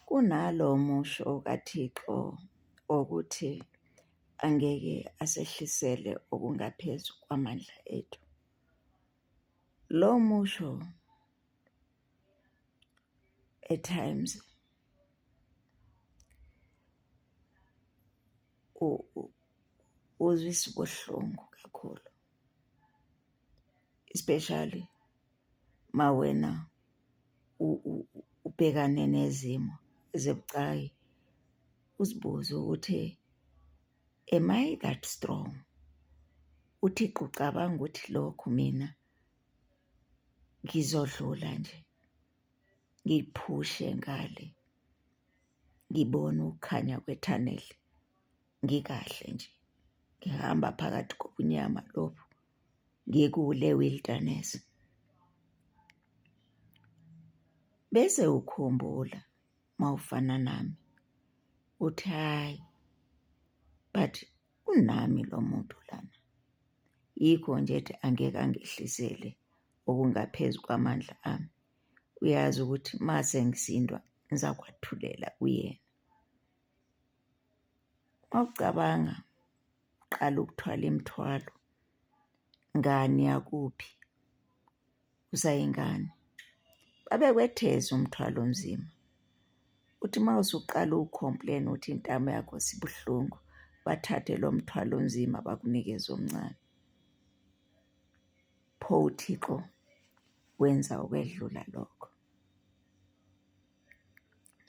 Kunalo musho kaThixo wokuthi angeke asehlisele okungaphezu kwamandla ethu. Lo musho eTimes uzwisa ubuhlungu kakhulu. especially uma wena ubhekane nezimo ezibucayi, uzibuze ukuthi am I that strong? UThixo ucabanga ukuthi lokhu mina ngizodlula nje? ngiphushe ngale ngibone ukukhanya kwethaneli ngikahle nje ngihamba phakathi kobunyama lobu ngikule wilderness bese ukhumbula mawufana nami uthi hayi but unami lo muntu lana. Yikho nje ethi angeke angehlisele okungaphezu kwamandla ami. Uyazi ukuthi uma sengisindwa ngizakwathulela kuyena. Mawucabanga qala ukuthwala imithwalo ngani yakuphi usayingane. Babekwetheza umthwalo onzima. Uthi uma usuqala ukhompleni uthi intamo yakho sibuhlungu, bathathe lo mthwalo onzima bakunikeze omncane. Pho uThixo wenza ukwedlula lokho.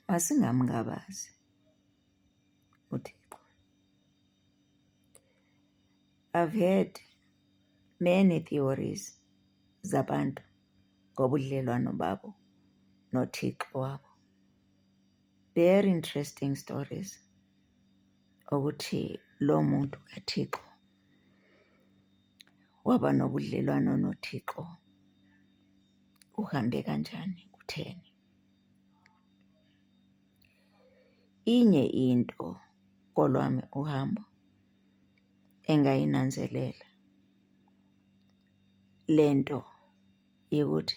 Masingamngabazi uThixo. I've heard many theories zabantu ngobudlelwano babo noThixo wabo. Very interesting stories ukuthi lo muntu kaThixo waba nobudlelwano noThixo. uhambe kanjani kutheni. Inye into kolwami uhambo engayinanzelela le nto yokuthi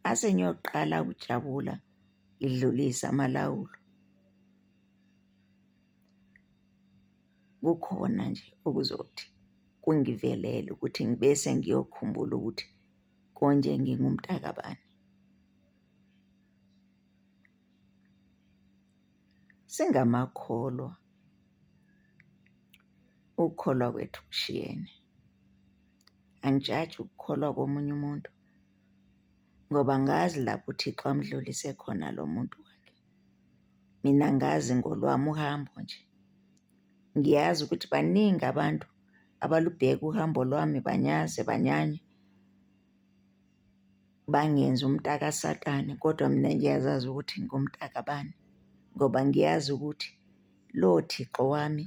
ase ngiyoqala ukujabula ngidlulise amalawulo. Kukhona nje okuzothi kungivelele ukuthi ngibe sengiyokhumbula ukuthi konje ngingumtakabani. Singamakholwa, ukukholwa kwethu kushiyene. Angijaji ukukholwa komunye umuntu ngoba ngazi lapho uThixo amdlulise khona lo muntu wakhe. Mina ngazi ngolwami uhambo nje. Ngiyazi ukuthi baningi abantu abalubheka uhambo lwami banyaze banyanye, bangenze umtakasatane kodwa mina ngiyazazi ukuthi ngingumtakabani ngoba ngiyazi ukuthi lo Thixo wami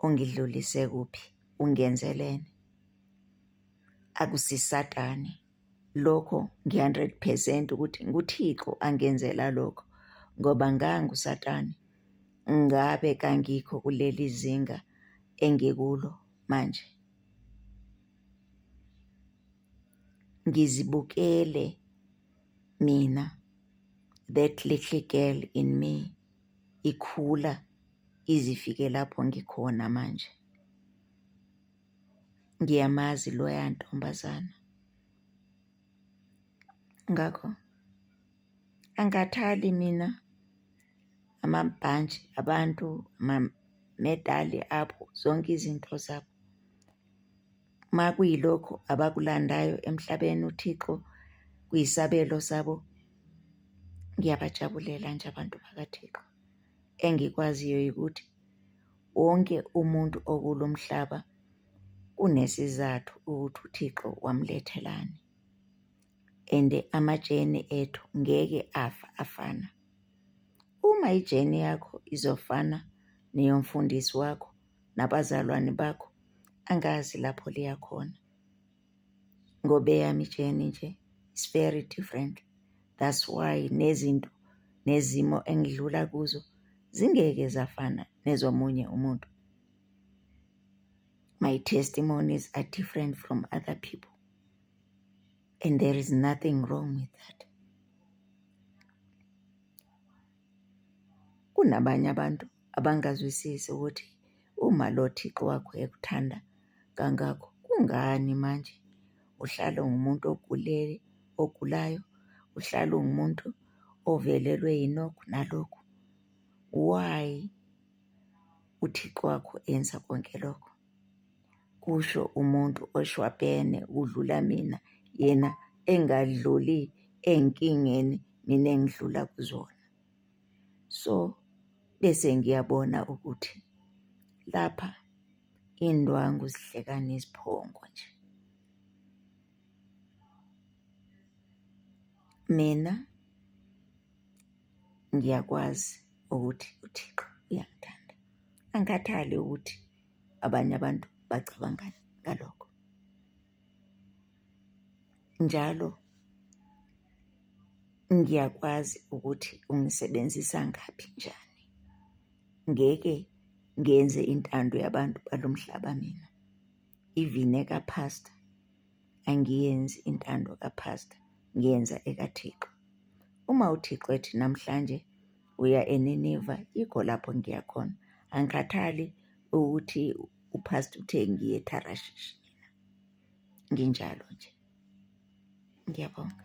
ongidlulise kuphi ungenzeleni, akusisatane. Lokho ngi-hundred percent ukuthi nguThixo angenzela lokho ngoba nganguSatane ngabe kangikho kuleli zinga engikulo manje. Ngizibukele mina that little girl in me ikhula izifike lapho ngikhona manje. ngiyamazi loya ntombazana. Ngakho angikhathali mina amabhantshi abantu, amamedali abo, zonke izinto zabo. Uma kuyilokho abakulandayo emhlabeni uThixo kuyisabelo sabo, ngiyabajabulela nje abantu bakaThixo. Engikwaziyo ukuthi Wonke umuntu okulo mhlaba kunesizathu ukuthi uThixo wamlethelani. And amajeni ethu ngeke afa afana. Uma ijeni yakho izofana neyomfundisi wakho nabazalwane bakho, angazi lapho liyakhona. ngoba eyami ijeni nje is very different that's why nezinto nezimo engidlula kuzo zingeke zafana nezomunye umuntu my testimonies are different from other people and there is nothing wrong with that Kunabanye abantu abangazwisisi ukuthi uma lo Thixo wakho ekuthanda kangako, kungani manje uhlala ungumuntu ogulele, ogulayo, uhlala ungumuntu ovelelwe yilokhu nalokhu. Why uThixo wakho enza konke lokho? kusho umuntu oshwabhene kudlula mina yena engadluli enkingeni mina engidlula kuzona. So, bese ngiyabona ukuthi lapha indwangu zihlekana iziphongo nje. Mina ngiyakwazi ukuthi uThixo uyangithanda, angikhathali ukuthi abanye abantu bacabangani ngalokho. Njalo ngiyakwazi ukuthi ungisebenzisa ngaphi njani. Ngeke ngenze intando yabantu balo mhlaba mina. Even ekaPhastor angiyenzi intando kaPhastor, ngiyenza ekaThixo. Uma uThixo ethi namhlanje uya eNineva, yikho lapho ngiya khona. Angikhathali ukuthi uphastor uthe ngiye eTharashishi, nginjalo nje. Ngiyabonga.